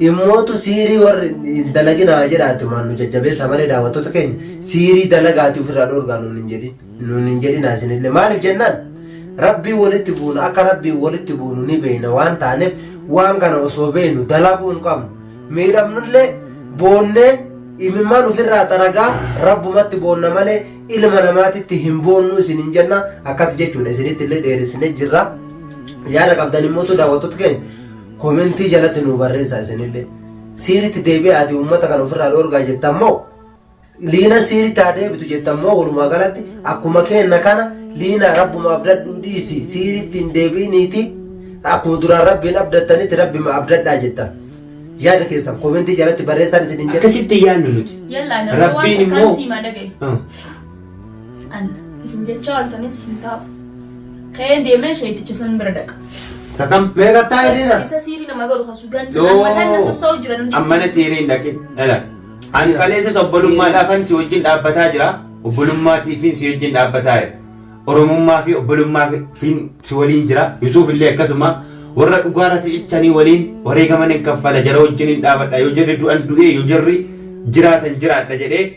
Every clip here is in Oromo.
Immootu siirii warri hin dalaginaa jedha atumaan nu jajjabeessaa malee daawwattoota keenya siirii dalagaati ofirraa dhoorgaa nuun hin jedhin nuun hin jedhinaa isinillee maaliif jennaan rabbii walitti buuna akka rabbii walitti buunu ni beeyna waan taaneef waan kana osoo beeynu dalaguu hin qabnu miidhamnullee boonnee imimmaan ofirraa xaragaa rabbumatti boonna malee ilma namaatitti hin boonnu isin hin jenna akkas jechuudha isinitti illee dheerisnee jirra yaada qabdan immoo daawwattoota keenya Komentii jalatti nuu barreessaa isinillee. Siiritti deebi'aati uummata kan ofirraa dhoorgaa jettan moo liinan siiritti haa deebitu jettan moo walumaa galatti akkuma keenna kana liinaa rabbuma abdadhuu dhiisi siiritti hin deebi'iniiti akkuma duraan rabbiin abdattanitti rabbima abdadhaa jettan. Yaada keessan komentii jalatti barreessaan isin hin jedhu. Akkasitti yaadnu nuti. Yallaa Rabbiin immoo. An isin jechaa oltanis hin taa'u. Ka'een deemee sheeyticha san bira dhaqa. Sakam mee kattaa Isa- hidhiidha. Isa siirii nama godhu kan sugan Yoo. jedhan mataan na sossa'u jiran hundi Ammana siirii. siiriin dhaqe. Dhala. Ani kaleessas obbolummaadhaafan si wajjin dhaabbataa jira. Obbolummaatiifin si wajjin dhaabbataa jira. Oromummaa fi obbolummaa fi si waliin jira. Yusuuf illee akkasuma warra dhugaarra cichanii waliin wareegaman hin kaffala jara wajjin hin dhaabadha. Yoo jarri du'an du'ee yoo jarri jiraatan jiraadha jedhee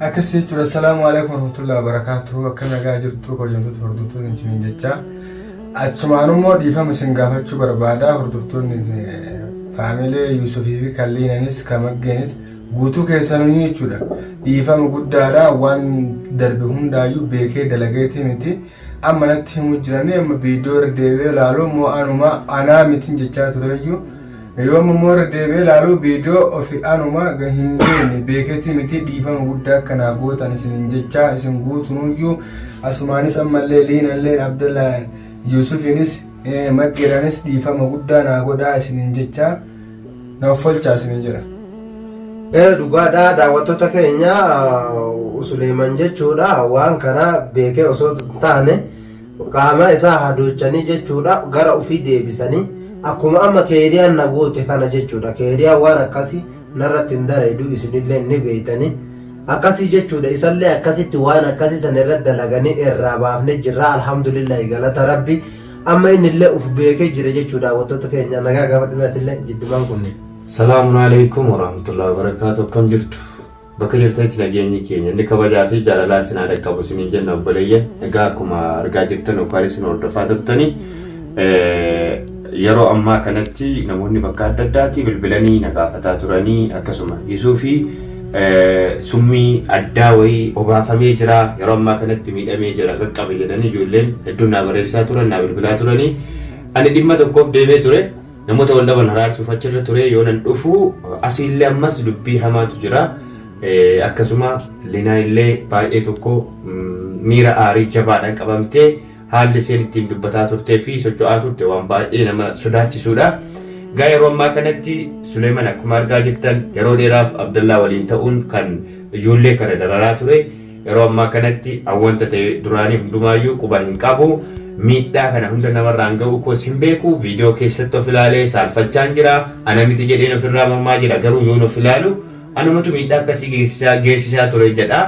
Akkas jechuudha. Assalaamu alaikum warahmatullahi wabarakatuh. Akka nagaa jirtu kabajamtoota hordoftoonni isiniin jecha. Achumaan immoo dhiifama isin gaafachuu barbaada. Hordoftoonni faamilee Yuusufii fi Kalliinanis Kamaggeenis guutuu keessanuu jechuudha. Dhiifama guddaadha waan darbe hundaayyuu beekee dalageetii miti. Amma natti himuu jiranii amma viidiyoo irra deebi'ee ilaalu immoo anuma anaa mitiin jechaa tureyyuu Yoom immoo irra deebi'ee ilaaluu viidiyoo ofi anuma hin beekne beeketii miti dhiifama guddaa akka naa gootan isinin jechaa isin guutunuyyuu asumaanis ammallee liinalleen abdalla yusufinis madhiranis dhiifama guddaa naa godhaa isinin jechaa na offolchaa isinin jedha. Dhugaadha daawwattoota keenya Suleeman jechuudha waan kana beekee osoo hin taane Qaama isaa hadoochanii jechuudha gara ufii deebisanii akkuma amma keeriyaan na goote kana jechuudha keeriyaan waan akkasi narratti hin dalayduu isinillee ni beeytanii akkasii jechuudha isallee akkasitti waan akkasii san irra dalaganii irraa baafne jirra alhamdulillahi galata rabbi amma innillee uf beekee jira jechuudha hawwattoota keenya nagaa gaafadhumeetillee jiddumaan kunne. Salaamun alaikum warahmatullahi wabarakatuh akkam jirtu Bakka jirtanitti nageenyi keenya inni kabajaa fi jaalalaa isin haa dhaqqabu isiniin jenna obboleeyyan. Egaa akkuma argaa jirtan yookaan isin hordofaa turtanii yeroo ammaa kanatti namoonni bakka adda addaati bilbilanii na gaafataa turanii akkasuma Yusuu fi summii addaa wayii obaafamee jira yeroo ammaa kanatti miidhamee jira qaqqabe jedhanii ijoolleen hedduun naa barreessaa turan naa bilbilaa turanii ani dhimma tokkoof deemee ture. Namoota wal dhaban araarsuuf achirra ture yoo nan dhufu asiillee ammas dubbii hamaatu jira. Akkasuma Linaa illee baay'ee tokko miira aarii jabaadhaan qabamtee haalli isheen ittiin dubbataa turtee fi socho'aa turte waan baay'ee nama sodaachisuudha. Gaa yeroo ammaa kanatti Suleeman akkuma argaa jirtan yeroo dheeraaf Abdallaa waliin ta'uun kan ijoollee kana dararaa ture. Yeroo ammaa kanatti awwanta ta'e duraanii hundumaayyuu quba hin qabu. Miidhaa kana hunda namarraan ga'uu koos hin beeku. Viidiyoo keessatti of ilaalee saalfachaan jira. Ana miti jedheen ofirraa mormaa jira. Garuu yoon of ilaalu anumatu miidhaa akkasii geessisaa geessisaa ture jedha.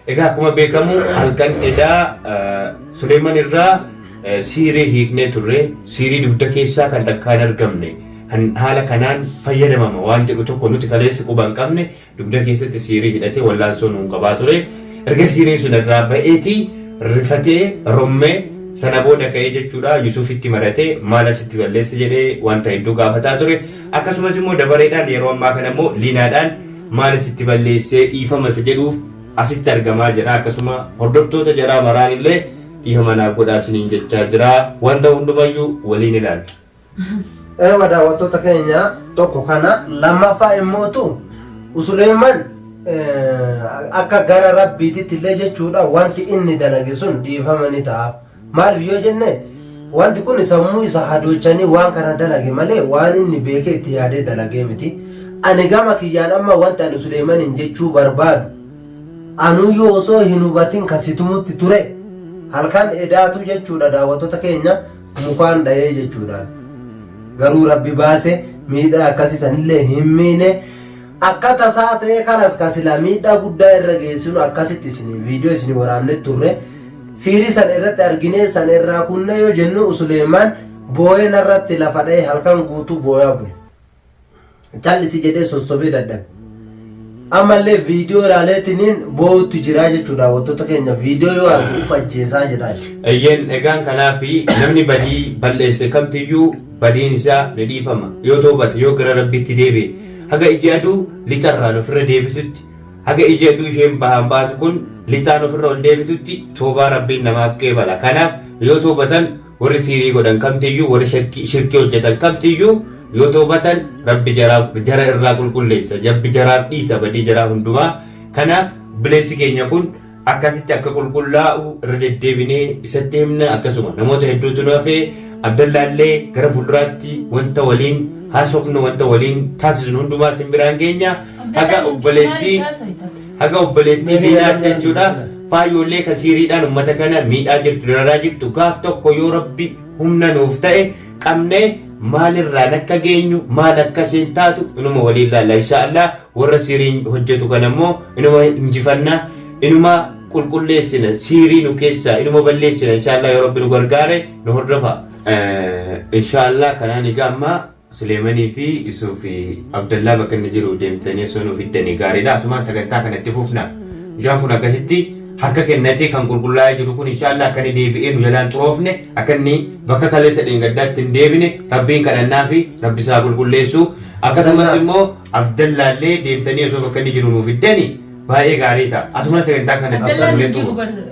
Egaa akkuma beekamu halkan edaa eh, Suleeman irraa eh, siirii hiiknee turre. Siirii dugda keessaa kan takkaa hin argamne. Kan haala kanaan fayyadamama waan jedhu tokko nuti kaleessa quba hin qabne Dugda keessatti siirii hidhatee wallaansoo nuun qabaa ture. Erga siiriin sun irraa ba'eeti rifatee rommee sana booda ka'ee jechuudha Yusufitti maratee maal asitti balleessa jedhee wanta hedduu gaafataa ture. Akkasumas immoo dabareedhaan yeroo ammaa kana immoo liinaadhaan maal asitti balleessee dhiifama isa jedhuuf asitti argamaa jira. Akkasuma hordoftoota jaraa maraan illee dhiifama naaf godhaa isiniin jechaa jira. Wanta hundumayyuu waliin ilaalla. Eewa daawwattoota keenya tokko kana lammaffaa immootu Suleeyman akka gara rabbiititti illee jechuudha wanti inni dalage sun dhiifama ni ta'a. Maaliif yoo jenne wanti kun sammuu isa hadoochanii waan kana dalage malee waan inni beekee itti yaadee dalagee miti. Ani gama kiyyaan amma wanti ani Suleeymaniin jechuu barbaadu anuyyuu osoo hin hubatin kasitumutti ture halkan edaatu jechuudha daawwattoota keenya Mukaan dhayee jechuudhaan. Garuu Rabbi baase miidhaa akkasii sanillee hin miine. Akka tasaa ta'ee kanas ka silaa miidhaa guddaa irra geessinu akkasitti isin viidiyoo isin waraabne turre. Siirii sana irratti arginee sana irraa kunnee yoo jennu Suleemaan booyee narratti lafa dha'ee halkan guutuu booyaa bule. callisi jedhee sossobee dadhabe. Ammallee viidiyoo ilaaleetiniin boo'utti jiraa jechuudha daawwattoota keenya viidiyoo yoo argu uf ajjeesaa jedhaa jechuudha. Eeyyeen egaan kanaaf namni badii balleesse kamtiyyuu badiin isaa ni dhiifama yoo toobate yoo gara rabbiitti deebi'e haga iji aduu lixarraan ofirra deebitutti haga iji aduu isheen bahaan baatu kun lixaan ofirra ol deebitutti toobaa rabbiin namaaf qeebala kanaaf yoo toobatan Warri sihrii godhan kamtiyyuu, warri shirkii, shirkii hojjatan kamtiyyuu yoo tawbatan Rabbi jaraa, jara irraa qulqulleessa. Rabbi jaraaf dhiisa badii jaraa hundumaa. Kanaaf obboleessi keenya kun akkasitti akka qulqullaa'u irra deddeebinee isatti himna. Akkasuma namoota hedduutu nu hafe. Abdallaallee gara fuulduraatti wanta waliin haasofnu, wanta waliin taasisnu hundumaa isin biraan geenya. Haga Abdallaan obboleettii eenyu maaliif haasofta? Haga obboleettii zinaatti jechuudha faayyoollee kan siiriidhaan ummata kana miidhaa jirtu dararaa jirtu gaaf tokko yoo rabbi humna nuuf ta'e qabnee maalirraan akka geenyu maal akka isheen taatu inuma waliin ilaalla insha Allah warra siiriin hojjetu kana immoo inuma injifanna inuma qulqulleessina siirii nu keessaa inuma balleessina insha Allah yoo rabbi nu gargaare nu hordofa. Insha Allah kanaan egaa ammaa Suleemanii fi Yusuuf Abdallaa bakka inni jiru deemtanii osoo nuu fiddanii gaariidha. Asumaan sagantaa kana itti fufna. Mucaan kun akkasitti harka kennatee kan qulqullaa'ee jiru kun inshaallah akka inni deebi'ee nu jalaan xuroofne akka inni bakka kaleessa dheengaddaatti hin deebine rabbiin kadhannaa fi rabbi isaa qulqulleessu. Akkasumas immoo Abdallaallee deemtanii osoo bakka inni jiru nuu fiddanii baay'ee gaarii ta'a. Asumaan sagantaa kana itti Abdallaan fufnee hin jiru xumurra. bar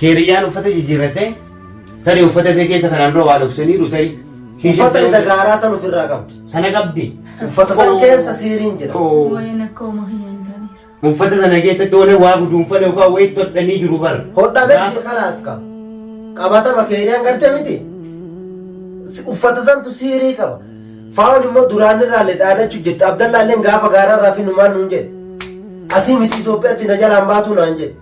Keeriyyaan uffata jijjiirrattee tarii uffata tee keessa kanaan dura waa dhoksaniiru tarii. Uffata isa gaaraa san ofirraa qabdi. Sana qabdi. Uffata san keessa siiriin jira. Waa'een akka hooma kiyya hin taane. Uffata sana keessatti waan waa guduunfan yookaan wayii hodhanii jiru bar. Hodhamee jira kalaas qaba. Qabatama keeriyaan garte miti. Uffata santu siirii qaba. Faawon immoo duraan irraallee dhaadachuu jette. Abdallaalleen gaafa gaararraa fi numaan nuun jedhe. Asii miti Itoophiyaatti na jalaan baatuu naan jedhe.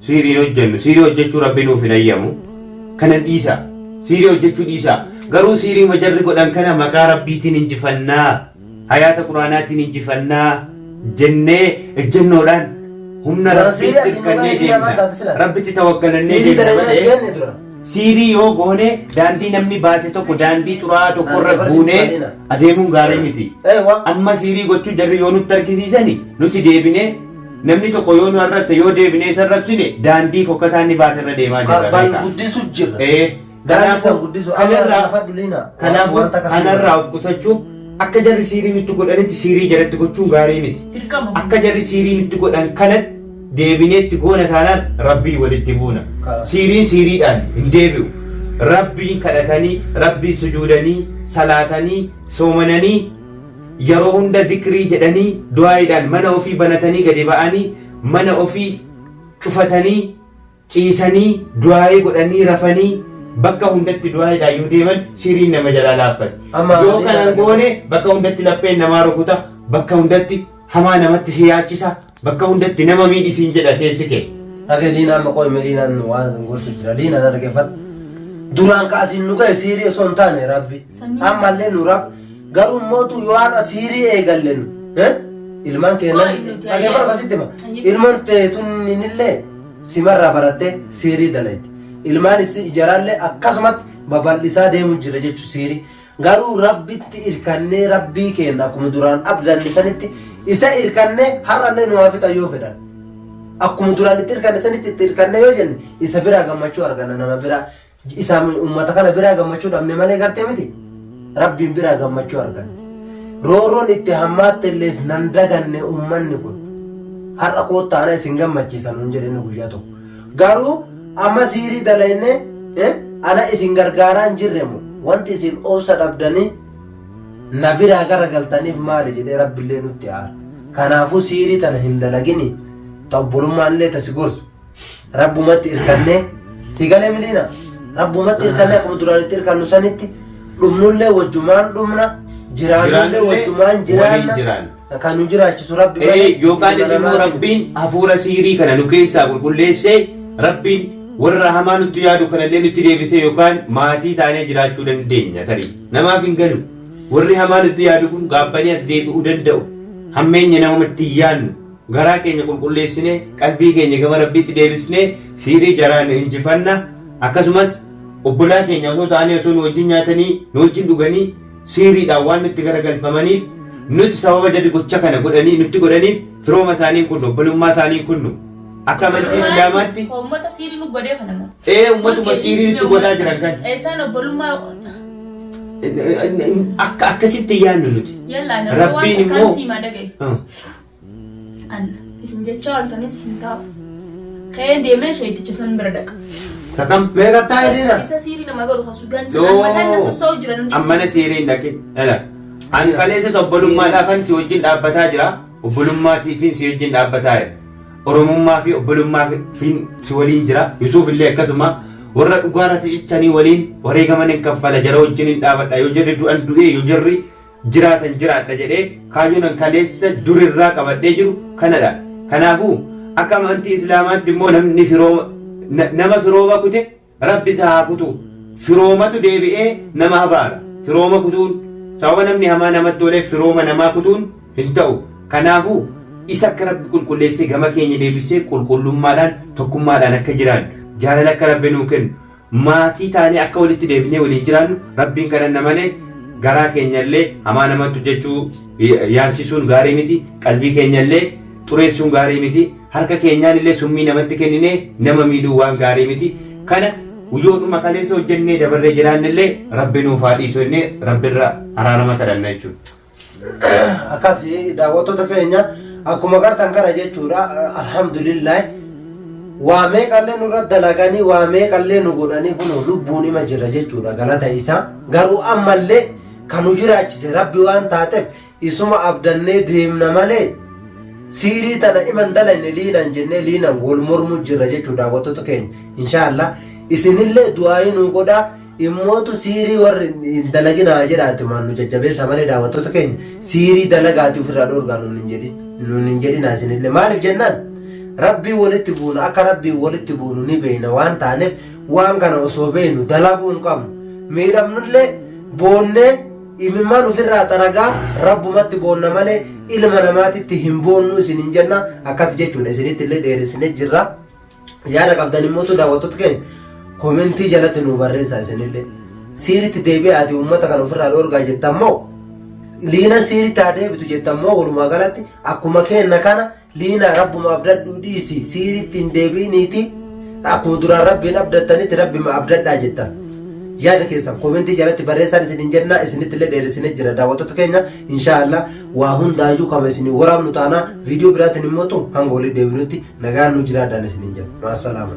Sihrii hin hojjennu. Sihrii hojjechuu Rabbi nuuf hin hayyamu. Kanan dhiisaa. Sihrii hojjechuu dhiisaa. Garuu sihriima jarri godhan kana maqaa Rabbiitiin injifanna, hayaata Qur'aanaatiin injifanna jennee ejjennoodhaan humna Dura sihrii Rabbiitti asiin dhugaa hirkannee hedii namaan deemna. taate sila. Rabbitti tawakkalannee Sihrii deemna dalaynaa si malee geenye dura. sihrii yoo goone daandii namni baase tokko daandii xuraa'aa tokko irra Daandii buunee barsiifadheena. adeemuun gaarii miti. Ee waa. Amma sihrii gochuu jarri yoo nutti argisiisani nuti deebinee Namni tokko yoo nu arrabse yoo deebinee isa arrabsine daandii fokkataa inni baate irra deemaa jirra. Bal beekaa. guddisu jirra. Ee, Daandii kanaafuu- san guddisu. Amma kanarraa- lafa duliina. Kanaafuu Wanta akkasii kanarraa of qusachuuf akka jarri siirii nutti godhanitti siirii jaratti gochuun gaarii miti. Dirqama. Akka jarri siirii nutti godhan kanatti deebinee itti goona taanaan rabbii walitti buuna. Karaa. Siiriin siiriidhaan hin deebi'u. Rabbiin kadhatanii, rabbiin sujuudanii, salaatanii, soomananii Yeroo hunda zikrii jedhanii, du'aa'iidhaan mana ofii banatanii gadi ba'anii, mana ofii cufatanii, ciisanii, du'aa'ii godhanii, rafanii, bakka hundatti du'aa'iidhaan yoo deeman sihriin nama jalaa laaffatti. Amma Yoo kana hin goone bakka hundatti lapheen namaa rukuta, bakka hundatti hamaa namatti si yaachisa. Bakka hundatti nama miidhi siin jedha keessi kee. Dhage liinaa amma qoy meliinaan nu waan gorsu jira liinaa na dhaggeeffadhu duraan ka asiin nu ga'e siirii osoo hin taane rabbi ammallee nu rab garuu mootu yoo har'a siirii eegalle nu eh? ilmaan keenya Qoy nuti dhaggeeffadhu ayyaana. kasitti ma Ayyaana. ilmoon teetunillee simarraa barattee siirii dalayti ilmaan issi ijaraallee akkasumatti babal'isaa deemu jira jechu siirii Garuu Rabbitti irkannee Rabbii keenna akkuma duraan abdanne sanitti isa irkannee har'allee nu haa fixan yoo fedhan. Akkuma duraan itti irkanne sanitti itti irkannee yoo jenne isa biraa gammachuu arganna nama biraa isaa uummata kana biraa gammachuu dhabne malee gartee miti. Rabbiin biraa gammachuu arganna. Roorroon itti hammaatte illeef nan daganne uummanni kun. Har'a koottaa ana isin gammachiisa nuun jedhe inni guyyaa tokko. Garuu amma siirii dalaynee ana isin gargaaraa hin jirre moo wanti isin obsa dhabdanii na biraa gara galtaniif maali jedhee rabbillee nutti aara kanaafuu siirii tana hin dalaginii ta obbolummaan illee ta si gorsu rabbumatti irkannee si galee miliina rabbumatti irkannee akkuma duraan itti irkannu sanitti dhumnullee wajjumaan dhumna jiraannullee Jiraannullee wajjumaan waliin jiraanna jiraanna. Kan nu jiraachisu rabbi Ee, malee yookaanis nama immoo namaati. rabbiin hafuura siirii kana nu keessaa qulqulleessee rabbiin warra hamaa nutti yaadu kanallee nutti deebisee yookaan maatii taanee jiraachuu dandeenya tarii namaaf hin galu warri hamaa nutti yaadu kun gaabbanii as deebi'uu danda'u hammeenya namatti hin yaannu garaa keenya qulqulleessinee qalbii keenya gama rabbiitti deebisnee siirii jaraan injifanna akkasumas obbolaa keenya osoo taanee osoo nu wajjin nyaatanii nu wajjin dhuganii siiriidhaan waan nutti garagalfamaniif nuti sababa jarri gocha kana godhanii nutti godhaniif firooma isaanii kunnu obbolummaa isaanii kunnu akka amantii islaamaatti Uummata siirii nu godhee kana nu. ee ummatuma siirii nutti godhaa jiran kan Isaan obbolummaa akka akkasitti yaannu nuti yallaa nama waan Rabbiin takkaan immoo- siimaa dhagaye. Ah. Alla. Isin jechaa ooltanis hin taa'u. Ka'ee deemee shayxicha san bira dhaqa. Sakam mee kattaa Bas, hidhiidha. isa siirii nama godhu kasu ganti No. mataan na sossa'u jira nan Ammana dhiisu. siiree hin dhaqin. Dhala. Ani kaleessas obbolummaadhaafan si wajjin dhaabbataa jira. Obbolummaatiifin si wajjin dhaabbataa jira. Oromummaa fi obbolummaa fi si waliin jira. Yusuuf illee akkasuma warra dhugaarratti cichanii waliin wareegaman hin kaffala jara wajjin hin dhaabadha. Yoo jarri du'an du'ee yoo jarri jiraatan jiraadha jedhee kaayyoon an kaleessa durirraa qabadhee jiru kanadha. Kanaafuu akka amantii Islaamaatti immoo namni firooma na- nama firooma kute rabbi isaa haa kutu. Firoomatu deebi'ee nama habaara. Firooma kutuun sababa namni hamaa namatti ooleef firooma namaa kutuun hin ta'u. Kanaafuu isa akka rabbi qulqulleessee gama keenya deebisee qulqullummaadhaan tokkummaadhaan akka jiraannu jaalala akka rabbi nuu kennu maatii taanee akka walitti deebinee waliin jiraannu Rabbiin kadhanna malee garaa keenyallee hamaa namatti hojjechuu yaalchisuun gaarii miti qalbii keenyallee xureessuun gaarii miti harka keenyaan illee summii namatti kenninee nama miidhuu waan gaarii miti kana guyyoodhuma kaleessa hojjennee dabarree jiraannellee rabbi nuuf haa dhiisu jennee rabbirra araarama kadhanna jechuudha. akkas daawwattoota keenya akkuma gartan kana jechuudha alhamdulillah waa meeqallee nurra dalaganii waa meeqallee nu godhanii kun lubbuun ima jira jechuudha galata isaa garuu ammallee kan nu jiraachise rabbi waan taateef isuma abdannee deemna malee siirii tana iman dalayne liinan jennee liinan wal mormu jirra jechuudha daawwattoota keenya inshaallah isinillee du'aayii nu godhaa Immootu siirii warri hin dalagina haa jedhaa ati maal nu jajjabeessaa malee daawwattoota keenya siirii dalagaati ofirraa dhoorgaa nuun hin jedhin nuun hin jedhinaa isinillee maaliif jennaan rabbii walitti buuna akka rabbii walitti buunu ni beeyna waan taaneef waan kana osoo beeynu dalaguu hin qabnu miidhamnullee boonnee imimmaan ofirraa xaragaa rabbumatti boonna malee ilma namaatitti hin boonnuu isin hin jenna akkas jechuudha isinitti illee dheerisne jirra. Yaada qabdan immoo tu daawwattoota keenya koomentii jalatti nu barreessaa isinillee. Siiritti deebi'aati uummata kan ofirraa dhoorgaa jettan moo liina siiritti haa deebitu jettan moo walumaa galatti akkuma keenna kana liina rabbuma abdadhuu dhiisi siiritti hin deebi'iniiti akkuma duraan rabbiin abdattanitti rabbima abdadhaa jettan. Yaada keessan koomentii jalatti barreessaan isin hin jennaa isinitti illee dheeressinee jira daawwattoota keenya. Inshaa Allah waa hundaayyuu kama isinii waraabnu taana viidiyoo biraatiin immoo hanga walitti deebinutti nagaan nu jiraadhaan isiniin jenna. Maasalaama.